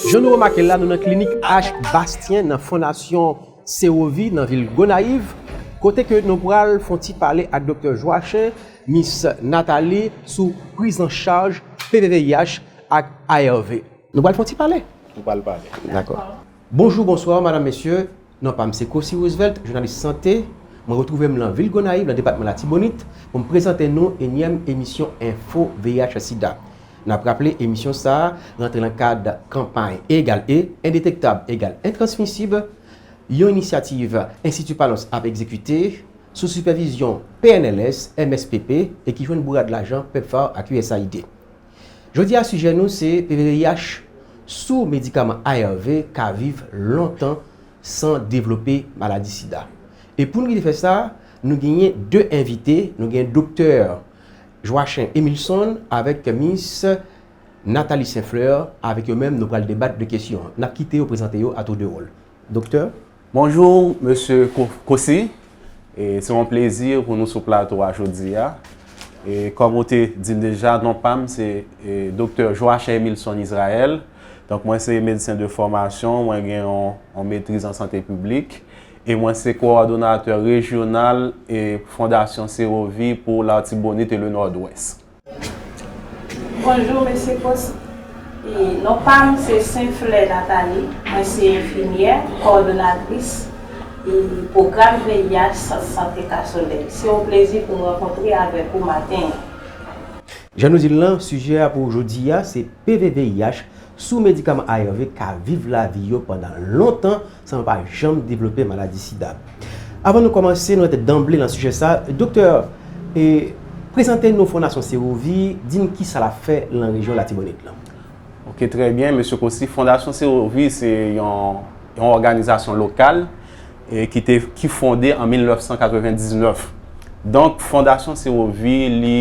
Jan nou remake l la, nou nan klinik Ash Bastien nan Fondasyon Sewovi nan vil Gonayiv, kote ke nou pral fon ti pale ak Doktè Joachin, Miss Nathalie sou priz an chaj PVVIH ak ARV. Nou pral fon ti pale. Nou pral pale. Dakò. Bonjou, bonswa, madam, mesye, non pa m se Cossy Roosevelt, jounalis sante, mwen retwouve m lan vil Gonayiv lan depatman Latibonit pou m prezante nou enyèm emisyon enfo VIH sida. N ap raple emisyon sa a rantre lan kad kanpay E egal E, Endetektab egal Entransmisib, yon inisyativ Enstiti Panos ap egzekite sou sipèvizyon PNLS, MSPP e ki jwenn bourad lajan Pepfar ak usaid. Jodi a sijè nou se pvrih sou medikaman arv ka viv lontan san devlope maladi sida. E pou nou rite fè sa, nou genyen 2 envite, nou gen doktè Joachin Emilson avèk mis Nathalie Saint-Fleur, avèk yo menm nou pral debat de kesyon an. N ap kite yo prezante yo a tou de wòl. Doktè. Bonjou Mesye Cossy. E se yon plezi pou nou sou plato a jodi a. E kòm ou te di l deja, non pa m se Doktè Joachim Emilson Israël. Donk mwen se medsen de fòmasyon, mwen gen yon metriz an sante piblik. E mwen se kowòdonatè rejyonal Fondasyon Serovi pou Latibonit e le Nòdwès. Bonjou Mesye Post e non pam se Sen Flè Nathalie mwen se enfimyè kòdonatris e pwogram VIH sant sante Kasolèy se yon plezi poum rankontre avèk ou maten an. Jan nou dil lan sijè a pou jodi a se PV VIH sou medikaman ARV ka viv lavi yo pandan lontan san yo pa janm devlope maladi sida. Avan nou kòmanse, nou rantre danble nan sijè sa, doktè e prezante nou Fondasyon Sewovi, di n kisa l ap fè lan rejyon Latibonit lan. Ok trè byen mesye Cossy, Fondasyon Sewovi se yon yon òganizasyon lokal e ki te ki fonde an 1999. Donk Fondasyon Sewovi li.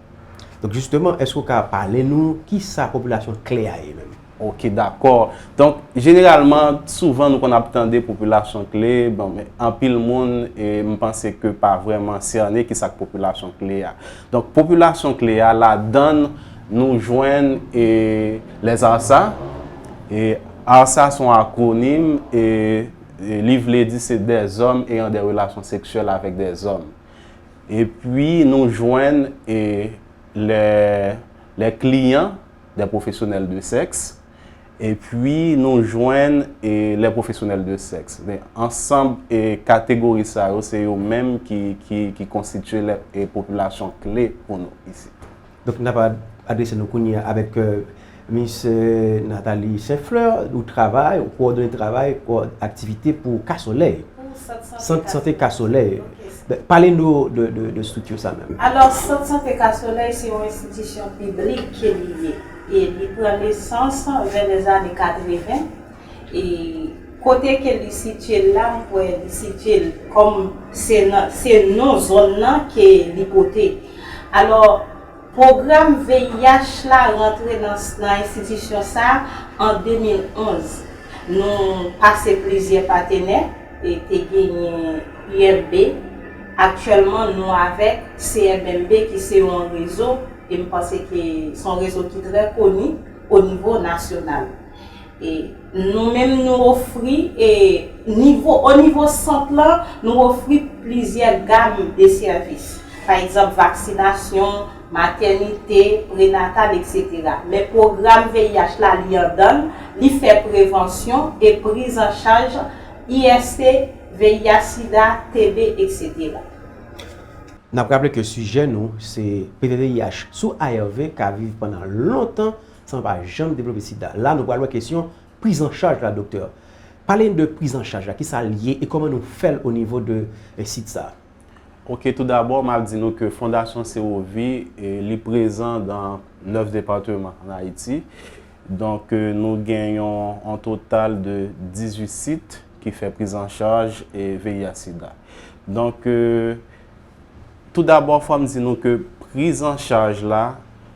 Donk jisteman, èske ou ka pale nou ki sa popilasyon kle a ye menm? Ok, dakò. Donk, jeneralman, souvan nou konn ap tande popilasyon kle, bon, men, anpil moun, e m panse ke pa vrèman sène ki sa k popilasyon kle a. Donk, popilasyon kle a, ladann nou jwenn e les arsa, e arsa son akwonim e li vle di se dè zòm eyan dè relasyon seksyèl avèk dè zòm. Epi nou jwenn les clients des professionnels de sexe epi nou jwenn les professionnels de sexe. Men ansanm kategori sa yo se yo menm ki konstitye popilasyon kle pou nou isit. Donk n ap adrese nou kounye a avèk Miss Nathalie Saint Fleur, ou travay, ou kowòdone travay, aktivite pou Ka Solèy. Sant Sante Ka Solèy. Pale nou de estrikti sa menm. Alò, Sant Sante Ka Solèy se yon enstitisyon piblik ke li ye. E li pran nesans vè lèzane 80, e kote ke li sitye la m kwè li sitye l kòm se nan se non zòn nan ke li pote alò pwogram VIH la rantre nan nan enstitisyon sa an 2011 nou pase plizyè patenè e te genyen UMB aktyèlman nou avèk CMMB ki se yon rezo e m panse ke son rezo ki trè koni onivo nasyonal Nou menm nou ofri, o nivo sant lan, nou ofri plizyè gam de sèvis. Pa egzanp, vaksinasyon, matènite, prenatal, eksetera. Men pwogram VIH la li andan l, li fè prevansyon e priz an chaj IST, VIH, sida, TB, eksetera. N ap raple ke sijè nou se ptvih sou ARV ka viv pandan lontan. san pa janm devlope sida. La nou pral wè kesyon priz an chaj la doktè. Pale n de priz an chaj la, ki sa l ye e kòman nou fè l o nivo de sit sa a? Ok tou dabò map di nou ke fondasyon sewovi li prezan dan 9 departeman an ayiti donk nou gen yon an total de 18 sit ki fè priz an chaj VIH sida donk tou dabò fòm di nou ke priz an chaj la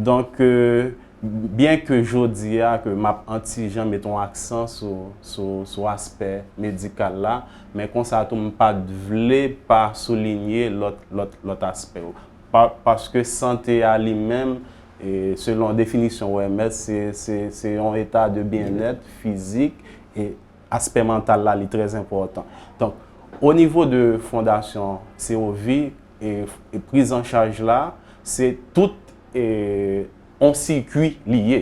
Donk, byen ke jodi a ke m ap an ti jan met yon aksan sou aspè medikal la, men konsa tou m pa t vle pa soulinye lòt aspè yo. Paske sante a li menm, selon definisyon OMS, se yon eta de byennèt fizik e aspè mantal la li trèzenpòtan. Donk, onivo de Fondasyon COVI, e prizanchaj la se tout on sikwi li ye.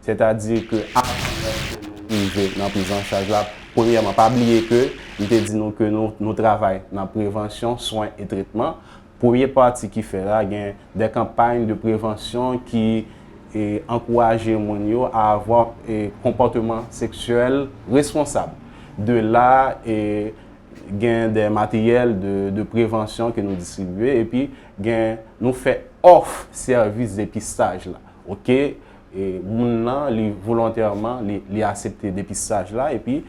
Sètadi ke avan menm ke nou rive nan prizanchaj la, premyèman pa bliye ke m te di nou ke nou travay nan prevansyon, swen e tretman. Premye pati ki fè la gen de kanpay de prevansyon ki ankouraje moun yo a avwa konpòteman seksyèl responsab. De la gen de materyèl de prevansyon ke nou distribye epi gen nou fè òf sèvis depistaj la ok moun nan li volontèman li asepte depistaj la epi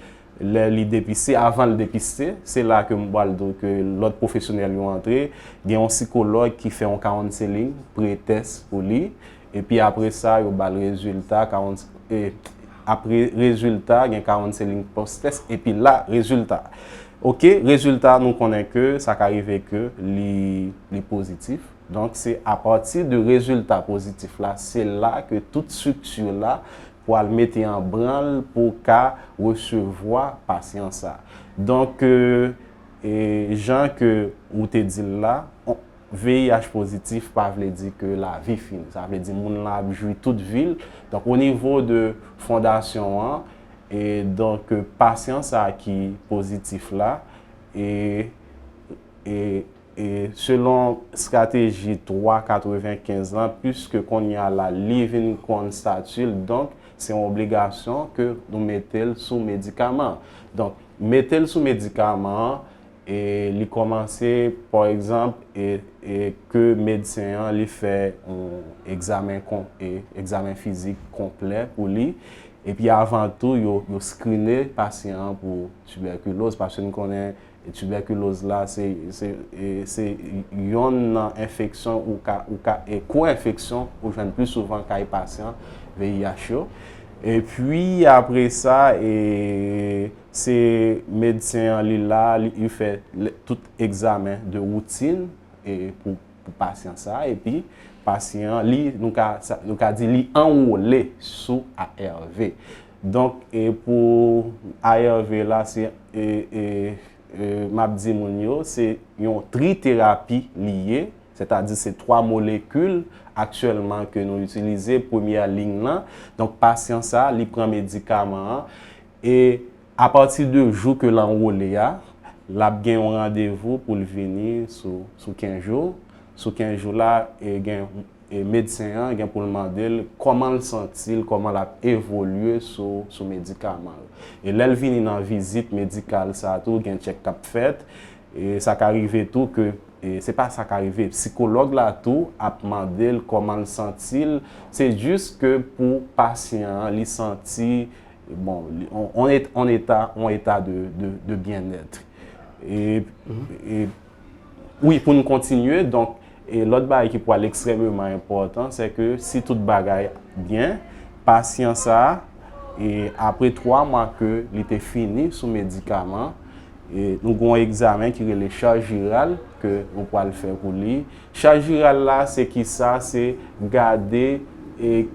lè li depise avan li depise se la ke mwen pral di ke lòt pwofesyonèl yo antre gen yon sikològ ki fè yon kaonseling pre tès pou li. epi apre sa yo bal rezilta 40 e apre rezilta gen 40 seling postes epi la rezilta ok rezilta nou konnen ke sa ka rive ke li li pozitif donk se apati de rezilta pozitif la se la ke tout strikti la pwal mete an branl pou ka resevwa pasyan sa donk e jan ke ou te dil la. VIH pozitif pa vle di ke lavi fini. Sa vle di moun lan ap jwi tout vi l. Donk o nivo de fondasyon an, e donk pasyan sa ki pozitif la, e e e selon strateji 3 95 lan, piske kounye a la li vin konn stati l, donk se yon obligasyon ke nou mete l sou medikaman. Donk mete l sou medikaman an, e li kòmanse pa egzanp e e ke medsen an li fè yon egzamen kon e egzamen fizik konplè pou li epi avan tou yo yo skrine pasyan an pou tibèkiloz paske nou konnen tibèkiloz la se se e se yonn nan enfeksyon ou ka ou ka e ko enfeksyon ou jwenn pli souvan kay pasyan VIH yo epi apresa e. Se medsen an li la, li fè tout egzamen de woutin pou pasyan sa a epi pasyan an li, nou ka di li anwole sou ARV. Donk pou ARV la se m ap di moun yo se yon triterapi li ye, sètadi se 3 molekil aktyèlman ke nou itilize, premyè liy nan. Donk pasyan sa a li pran medikaman an E apati de jou ke l anwole a, l ap gen yon randevou pou l vini sou kenz jou. Sou kenz jou la, medsen an gen pou l mande l kòman l santi l, kòman l ap evolye sou medikaman l. E lè l vini nan vizit medikal sa tou, gen tchèk k ap fèt. E sa ka rive tou ke, se pa sa ka rive, psikològ la tou ap mande l kòman l santi l. Se jis ke pou pasyan an li santi bon, on eta, on eta de byen nèt. E, e, wi pou nou kontinye, donk, e lòt bagay ki pwal ekstrèmeman enpòtan, se ke si tout bagay byen, pasyan sa, e apre 3 mwa ke li te fini sou medikaman, e nou g'on egzamen ki rele chaj viral ke nou pwal fè pou li, Chaj viral la se kisa? Se gade e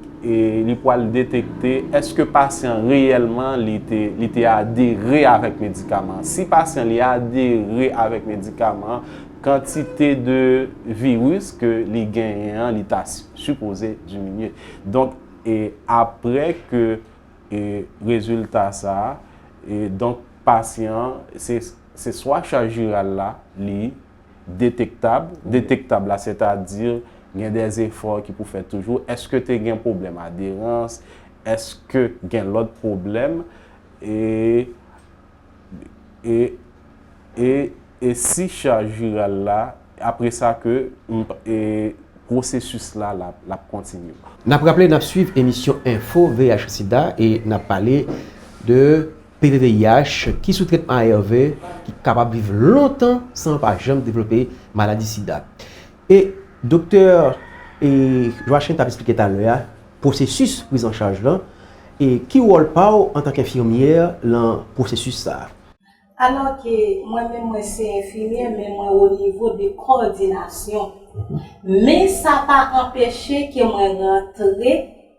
li pwal detekte eske pasyan reyèlman li te adere avèk medikaman. Si pasyan li adere avèk medikaman, kantite de viris ke li genyen an li ta sipoze diminye. Donk e apre ke e rezilta sa, e donk pasyan se swa chaj viral la li. detektab, detektab la se ta di gen de efò ki pou fèt toujou, eske te gen pwoblèm aderans, eske gen lòt pwoblèm, e e e e si chaj viral la apre sa ke m e pwosesis la l ap kontinye. N ap raple n ap swiv emisyon enfo VIH sida e n ap pale de PVVIH, ki sou tretman ARV, ki kapab viv lontan san pa janm devlope maladi sida. E doktè Joachim tap esplike talè a, pwosesis priz an chaj lan, e ki wòl pa w antank enfimyè lan pwosesis sa a? Alò ke mwen menm mwen se enfimyè men mwen o nivo de kòdinasyon. Men sa pa anpeche ke mwen rantre.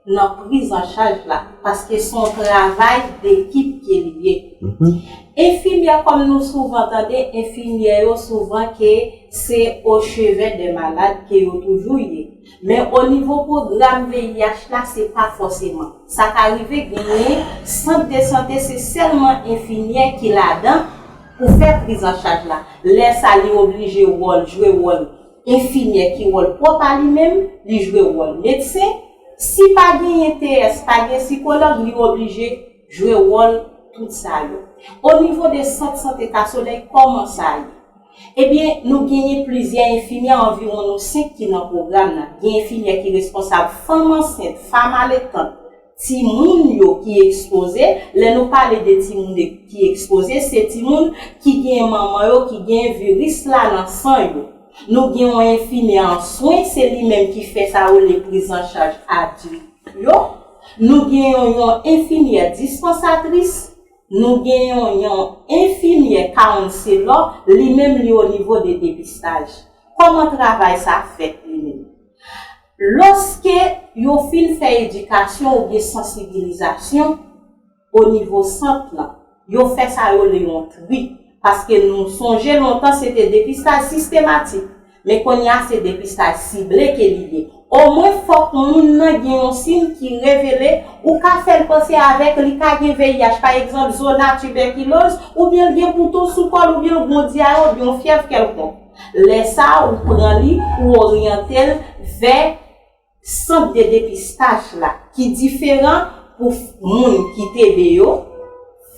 nan priz an chaj la paske se yon travay dekip ke li ye. Enfimyè kòm nou souvan tande enfimyè yo souvan ke se o chevè dè malad ke yo toujou ye men o nivo pwogram VIH la se pa fòseman. Sa ka rive genyen sant de sante se sèlman enfimyè ki ladan pou fè priz an chaj la lè sa li oblije wòl jwe wòl Enfimyè ki wòl pwòp a li menm, li jwe wòl medsen, si pa genyen TS, pa gen sikològ li oblije jwe wòl tout sa yo. O nivo de sant sante Kasolèy kòman sa ye? Ebyen nou genyen plizyè enfimyè anviwon nou 5 ki nan pwogram nan, gen enfimyè ki responsab fanm ansent, fam aletant, Timoun yo ki ekspoze, lè nou pale de timoun ki ekspoze, se timoun ki gen manman yo ki gen viris la nan san yo. Nou gen yon enfimyè an swen, se li menm ki fè sa yo rele prizanchaj adilt yo. Nou gen yon yon enfimyè dispansatris. Nou gen yon yon enfimyè kawounselò, li menm li onivo de depistaj. Kòman travay sa fèt li menm? Lòske yo fin fè edikasyon oubyen sansibilizasyon onivo sant lan, yo fè sa yo le yon tri, paske nou sonje lontan se te depistaj sistematik, men kounye a se depistaj sible ke li ye. Omwen fòk moun nan gen yon siy ki revele, ou ka fè l panse avèk li ka gen VIH, pa egzanp, zona, tibèkiloz, oubyen l gen bouton sou kò l oubyen l gondi a yon, oubyen yon fyèv kèlkonk. Lè sa a, ou pran li, ou oryante l vè sant de depistaj la ki diferan pou moun ki TB yo,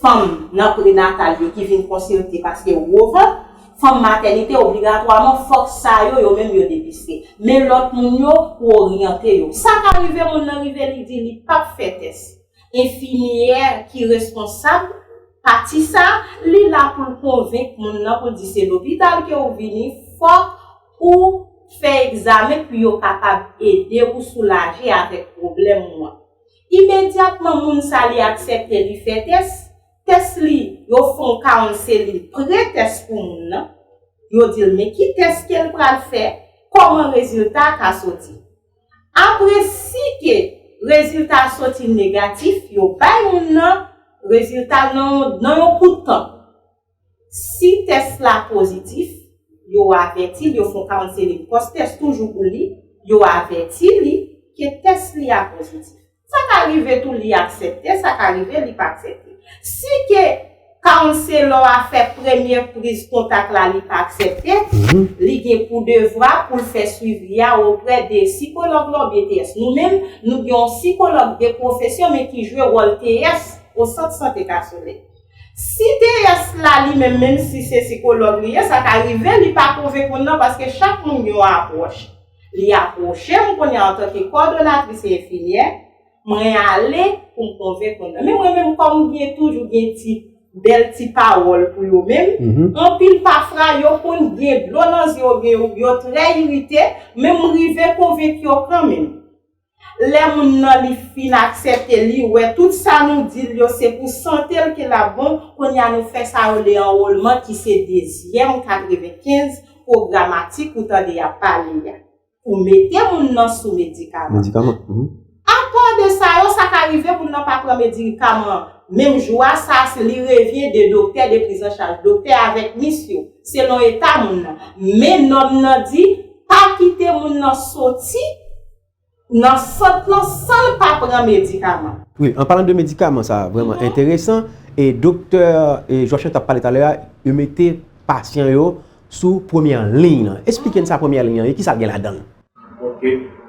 fanm nan prenatal yo ki vin konsilte paske yo gwo vant, fanm matènite obligatwaman fòk sa yo, yo menm yo depiste. Men lòt moun yo, ou oryante yo. Sa ka rive moun nan rive li di li pap fè tès. Enfimyè ki responsab Pati sa li la poul konvenk moun nan poul di se lopital ke ou vini fòk ou fè egzamen pou yo kapab ede ou soulaje avèk pwoblèm ou an imedyatman moun sa li aksèpte li fè tès tès li yo fon karon se li pre tès pou moun nan yo dil men ki tès kel pral fè kòman rezilta ka soti. Apre si ke rezilta a soti negatif, yo bay moun nan rezilta l nan yon kout tan. Si tès la pozitif, yo avèti l, yo fè yon counseling pòs tès toujou pou li, yo avèti li ke tès li a pozitif. Sa ka rive tou li aksepte, sa ka rive li pa aksepte. Si ke counselor a fè premye priz kontak la li pa aksepte, li gen pou devwa pou l fè swivi a oprè de sikològ la oubyen TS. Nou menm, nou gen yon sikològ de pwofesyon men ki jwe wòl TS o sant sante Kasolèy. Si TS la li menm, menm si se sikològ li ye, sa ka rive li pa konvenk moun nan paske chak moun gen yon apwòch. Li apwoche m kounye a antanke kòdonatris e enfimyè, mwen ale pou m konvenk moun nan. Men mwen menm kòm m gen toujou gen ti bèl ti pawòl pou yo menm, anpil pafra yo konn gen dlo nan zye yo oubyen yo trè irite, men m rive konvenk yo kanmenm. Lè moun nan li fin aksèpte li wè tout sa nou di l yo se pou sante l ke l ap bon, kounye a nou fè sa rele anwolman ki se dezyèm 95 pwogramatik ou tande y ap pale a pou mete moun nan sou medikaman. Apa de sa yo, sa ka rive moun nan pa pran medikaman an menm jou a, sa a se li revyen de doktè, de prizanchaj doktè avèk mis yo, selon eta moun nan. Men nòm nan di. Pa kite moun nan soti nan sant lan san l pa pran medikaman. Wi, an palan de medikaman sa vrèman enteresan e doktè Joachim tap pale talè a, yo mete pasyan yo sou premyè liy lan. Esplike n sa premyè liy lan ye, kisa l gen ladan l? Ok.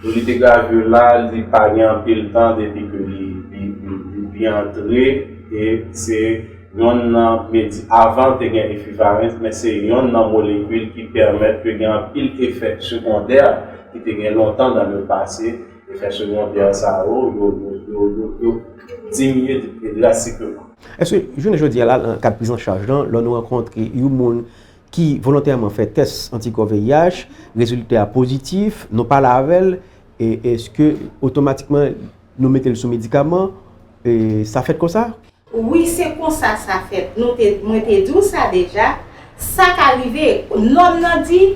Pou li te gravir la li pa gen anpil tan depi ke li li antre e se yonn nan medi avan te gen efivarens men se yonn nan molekil ki pèmèt ke gen anpil efè segondè ki te gen lontan nan le pase efè segondè sa yo yo diminye drasikleman. Eske jounen jodi a la nan kad prizancharj lan lò nou rankontre yon moun ki volontèman fè tès antikò VIH, rezilta a pozitif, nou pale avè l, èske otomatikman nou mete l sou medikaman? Sa fèt konsa? Wi, se konsa sa fèt. Mwen te di w sa deja, sa ka rive, nòm nan di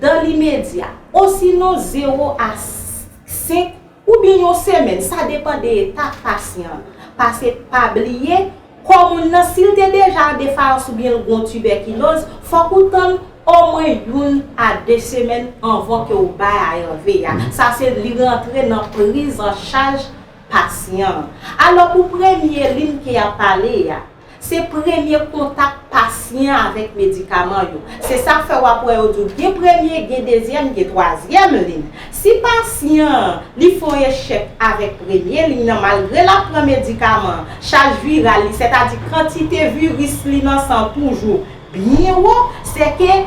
dan limedya, osinon zewo a senk. Oubyen yon semèn, sa depan de etap pasyan an. Pase pa bliye, kò moun nan si l te deja an defayans oubyen l gon tibèkiloz, fòk ou tann omwen youn a de semèn anvan ke ou bay ARV a. Sa se li rantre nan priz an chaj pasyan an. Alò pou premye lin ke y ap pale a. Se premye kontak pasyen an avèk medikaman yo. Se sa k fè w ap wè yo di w gen premye, gen dezyèm, gen twazyèm liy. Si pasyan an li fè yon echèk avèk premye liy nan malgre l ap pran medikaman an, chaj viral li, sètadi kantite viris li nan san an toujou byen wo, sèke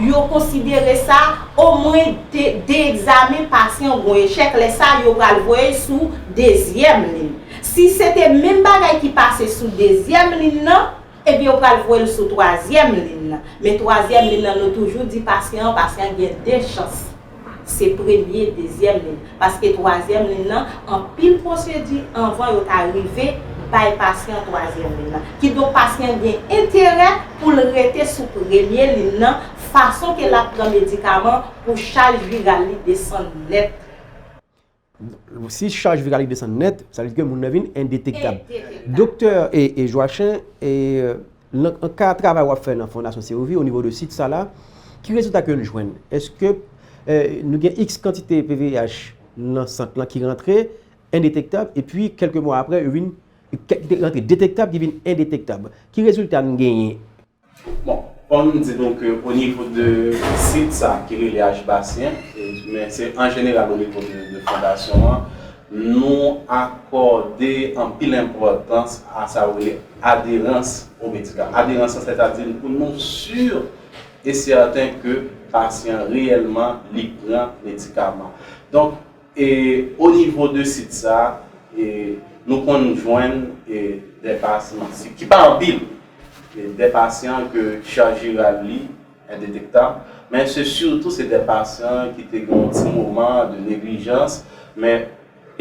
yo konsidere sa omwen de egzamen pasyan an gen yon echèk, lè sa yo pral voye l sou dezyèm liy. Si se te menm bagay ki pase sou dezyèm lin nan, ebyen ou pral voye l sou twazyèm lin nan. Men twazyèm lin nan nou toujou di pasyan an, pasyan an gen 2 chans. Se premye, dezyèm lin. Paske twazyèm lin nan, anpil pwosedi anvan yo ta rive bay pasyan an twazyèm lin nan. Kidonk pasyan an gen enterè pou l rete sou premye lin nan fason ke l ap pran medikaman pou chaj viral li desann nèt. Si chaj viral li desann nèt, sa vle di ke moun nan vin endetektab. Endetektab. Doktè e Joachin, nan ka travay wap fè nan Fondasyon Sewovi o nivo de sit sa la, ki rezilta ke nou jwenn? Eske nou gen iks kantite PVH nan sant lan ki rantre endetektab e pi kelke mwa apre yo vin, ki te rantre detektab ki vin endetektab? Ki rezilta nou genyen? Bon, fò m di nou ke o nivo de sit sa ki rele Ajbasyen, men se an jeneral o nivo de fondasyon an, nou akòde anpil enpòtans a sa yo rele aderans o medikaman. Aderans an sètadi pou nou si e sèten ke pasyan reyèlman li pran medikaman. Donk, E o nivo de sit sa e nou konn jwenn e dè pasyan si ki pa anpil e dè pasyan ke chaj viral li endetektab men se sitou se dè pasyan ki te gen yon ti moman de neglijans men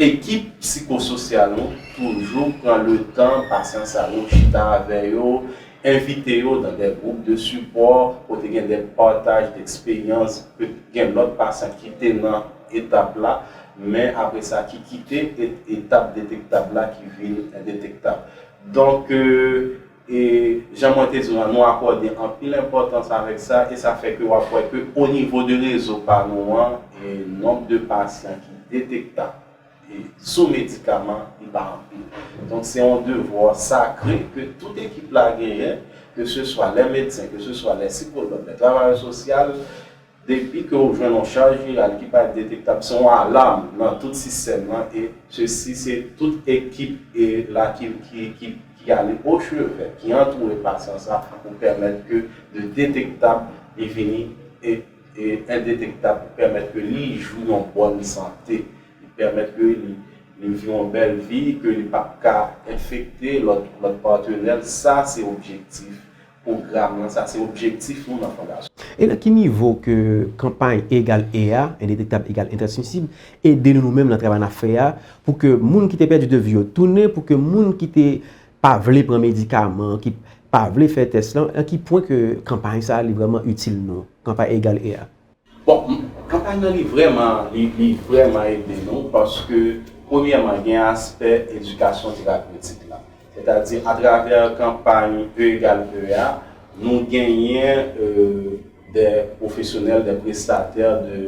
ekip psikososyal nou toujou pran le tan pasyan sa yo chita avè yo envite yo nan dè gwoup de sipò kote gen dè pataj dèksperyans ke gen lòt pasyan ki te nan etap la, men apre sa ki kite et etap detektab la ki vin endetektab. Donk, e jan mwen te di w lan, nou akòde anpil enpòtans avèk sa e sa fè ke w ap wè ke o nivo de rezo pa nou an, e nonb de pasyan ki detektab e sou medikaman li pa anpil. Donk, se yon devwa sakre ke tout ekip la genyen, ke se swa lè medsen, ke se swa lè sikològ, lè travayè sosyal, Depi ke ou jwenn yon chaj viral ki pa detektab se yon alam nan tout sistèm lan e sesi se tout ekip e la ki ki ki ale o chevè ki antoure pasyan sa pou pèmèt ke de detektab li vini e e endetektab pou pèmèt ke li jwi yon bòn sante li pèmèt ke li li vi yon bèl vi ke li pap ka enfekte lòt lòt patenèl sa se objektif Pwogram lan, sa se objektif nou nan Fondasyon. E nan ki nivo ke kanpay E egal E a, endetektab egal entransmisib, ede nou nou menm nan travay nap fè a pou ke moun ki te pèdi 2 vi yo tounen, pou ke moun ki te pa vle pran medikaman, ki pa vle fè tès lan, nan ki pwen ke kanpay sa li vreman itil nou, kanpay E egal E a? Bon kanpay nan li vrèman li vrèman ede nou paske premyèman gen aspè edikasyon terapyotik la sètadi atravè kanpay E egal E a nou genyen dè pwofesyonèl dè prestatè de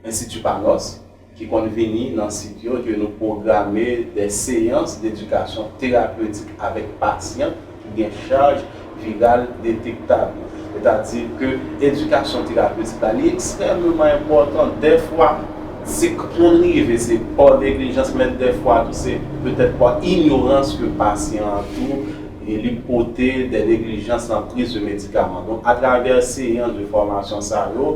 enstiti pa nòs ki konn vini nan sit yo ke nou pwograme dè seyans dedikasyon terapeutik avèk pasyan ki gen chaj viral detektab yo. Sètadi ke edikasyon terapeutik la li ekstrèmeman enpòtan. Dèfwa se konn rive se pa neglijans men dèfwa tou se petèt pa inyorans ke pasyan an tou li pote dè neglijans nan priz de medikaman. Donk atravè seyans de fòmasyon sa yo,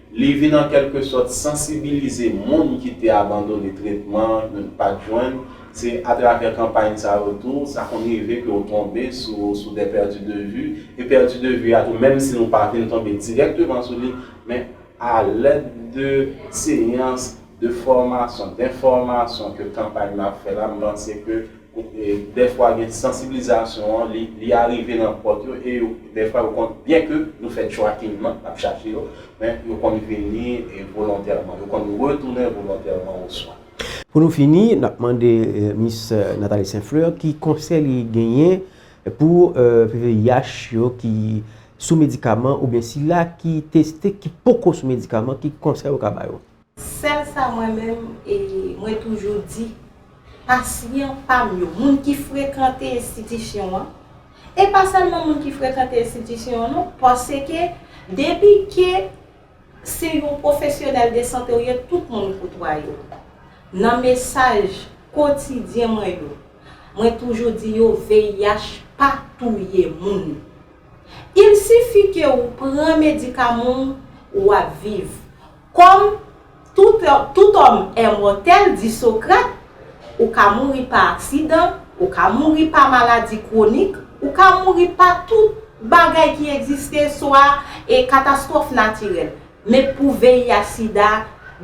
Li vin an kèlke sòt sansibilize moun ki te abandone tretman yo t pat jwenn, se atravè kanpay sa yo tou sa konn rive ke w tonbe sou sou des perdus de vue, e pèdi de vi a tou menm si nou pa vin tonbe dirèkteman sou li men a lèd de seyans de fòmasyon, denfòmasyon ke kanpay nou ap fè la m panse ke Dèfwa gen sansibilizasyon an li arive nan pòt yo e yo dèfwa yo konn byen ke nou fè tracking nan nap chache yo men yo konn vini volontèman yo konn retounen volontèman oswa. Pou nou fini nap mande Miss Nathalie St Fleur ki konsèy li genyen pou VIH yo ki sou medikaman oubyen sila ki teste ki poko sou medikaman ki konsèy ou ka ba yo? Sèl sa mwen menm e mwen toujou di pasyan pa m yo, moun ki frekante enstitisyon an, e pa sèlman moun ki frekante enstitisyon an non, paske depi ke se yon pwofesyonèl de sante ou ye tout moun koutwaye w. Nan mesaj kotidyen mwen yo, mwen toujou di yo VIH pa touye moun. Il sifi ke ou pran medikaman w, ou ap viv. Kòm tout òm èmòtèl, di Sokrat, ou ka mouri pa aksidan, ou ka mouri pa maladi kwonik, ou ka mouri pa tout bagay ki egziste swa e katastwòf natirèl. Men pou VIH sida,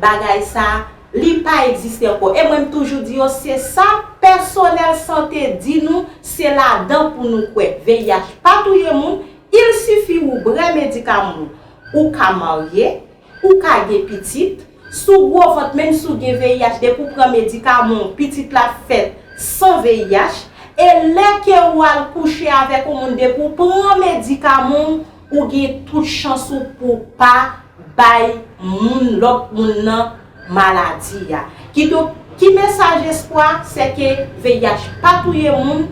bagay sa, li pa egziste ankò. E mwen m toujou di yo, se sa pèsonèl sante di nou, se ladan pou nou kwè. VIH pa touye moun, il sifi ou brè medikaman ou. Ou ka marye, ou ka gen pitit, si w gwo vant menm si w gen VIH depi w pran medikaman w pitit la fèt san VIH e lè ke ou al kouche avèk yon moun depi w pran medikaman w ou gen tout chans ou pou w pa bay moun lòt moun nan maladi a. Kidonk, ki mesaj espwa? Se ke VIH pa touye moun.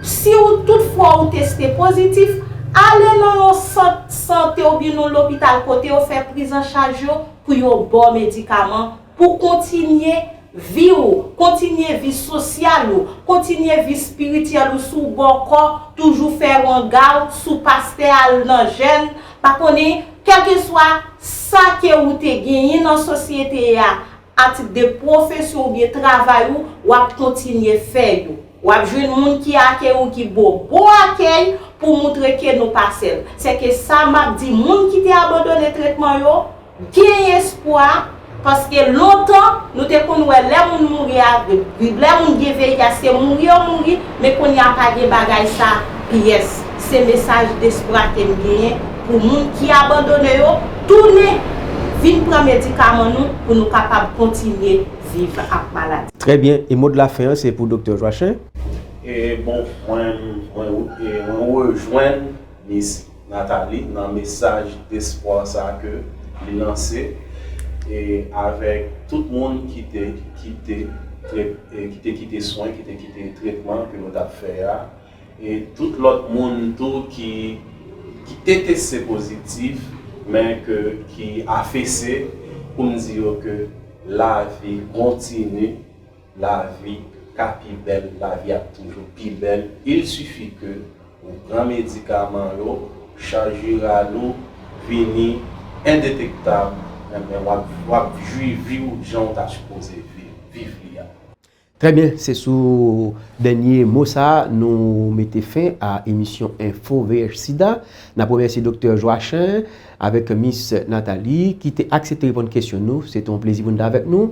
Si ou tout fwa ou teste pozitif, ale nan yon sant sante oubyen yon lopital kote yo fè prizanchaj yo pou yo ba w medikaman pou kontinye vi ou, kontinye vi sosyal ou, kontinye vi espirityèl ou si w bòkò toujou fè wanga w, si w pastè al nan jèn Pa konnen, kèlkeswa sa ke ou te genyen nan sosyete a atik de pwofesyon oubyen travay ou, w ap kontinye fè yo. W ap jwenn moun ki akèy ou ki ba w bon akèy pou moutre ke nou pa sèl. Sèke sa m ap di moun ki te abandone tretman yo, Gen espwa, paske lontan nou te konn wè lè moun mouri avk lè moun gen VIH se mouri yo mouri men kounya pa gen bagay sa pyès se mesaj despwa kem genyen pou moun ki abandone yo tounen vin pran medikaman nou pou nou kapab kontinye viv ak maladi. Trè byen, e mo de la fen an se pou Doktè Joachim. E bon mwen rejwenn Miss. Nathalie nan mesaj despwa sa ke li lanse e avèk tout moun ki te kite ki te kite swen ki te kite tretman ke nou tap fè a e tout lòt moun tou ki ki te teste pozitif men ke ki afese poum di yo ke lavi kontini Lavi ka pi bèl, lavi ap toujou pi bèl, il suffit ke ou pran medikaman yo, chaj viral ou vini endetektab, enben wap wap jwi vi'w jan'w ta sipoze viv li a. Trè byen, se sou dènye mo sa a nou mete fen a emisyon enfo vh sida. N ap remèsye Doktè Joachin avèk Miss Nathalie ki te aksepte reponn kesyon nou. Se te yon plezi pou n te avèk nou.